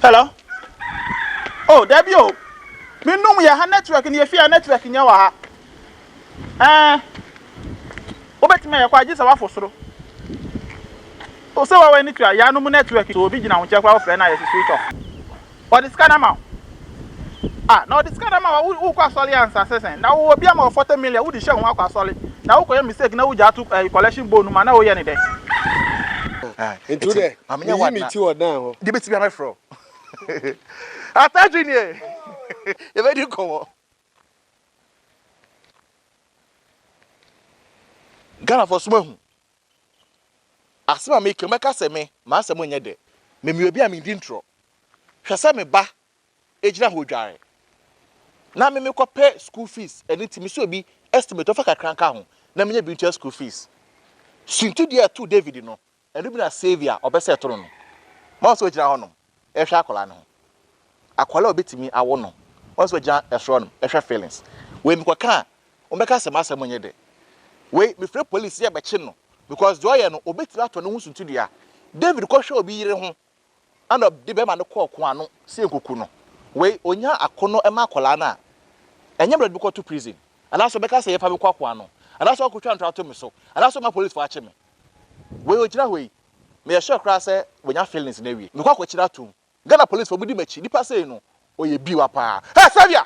Hello oh dabi o me num yɛ ha network ne efi a network nyɛ wɔ ha ɛɛ wobɛtumi ayɛ kɔ agye sɛ wafo soro o sɛ wɔwɔ ani tua yɛ anum network so obi gyina ho kyɛ kora wofrɛ no ayɛ sɛ switch off ɔde sika no ama wo ah na ɔde sika no ama wo wokɔ asɔre ansa sɛ sɛn na wowɔ bi ama wɔ 40 million wode hyɛ ho akɔ asɔre na wokɔyɛ mistake na wogya ato collection bone mu a na woyɛ ne dɛ nti Ma menyɛ Meyi me ti wɔ dan hɔ. Deɛ bɛtumi a mɛfrɛ wo. Atadwe nie. Yɛbɛdi nkɔmmɔ. Ghanafoɔ so moahu asɛm a meka mɛka sɛ me m'asɛm nyɛ dɛ me meyɛ obi a mendi ntorɔ hwɛ sɛ me ba gyina hɔ dware na me mekɔpɛ school fees ɛno nti mesɛ obi estimate ɔfa kakra nka ho na menyɛ bi ntua school fees suntudeɛ ɛto David no Ɛno bi na Saviour a ɔbɛ sɛ to no no ma ɔsɛ ɔgyina hɔ nom ɛhwɛ akwadaa no ho. Akwadaa a ɔbɛtumi awo no ɔsɛ ɔgyina ɛsoro hɔ nom ɛhwɛ feelings. Wei mekɔ ka a wɔn bɛka sɛ m'asɛm nyɛ dɛ. Wei mefrɛ police yɛ bɛkye no because deɛ ɔyɛ no ɔbɛtumi atɔ ne ho suntidua. David kɔ hwɛ obi yere ho ɛna ɔde bɛrima no kɔɔ ko ano sɛ nkoku no wei ɔnya ako no ɛma akwadaa no a ɛnyɛ mmerɛ de bɛkɔ to prison anaasɛ ɔbɛka sɛ yɛmfa bɛkɔ akoa no anaasɛ ɔkotwa ntorɔ ato me so anaasɛ ɔma policefoɔ akye me wei ɔgyina hɔ yi meyɛ sure koraa sɛ wɔnya feelings no awie mekɔ akɔkyerɛ atom Ghana policefoɔ mudi m'akyi nipa sei no ɔyɛ biwa paa hɛ Savia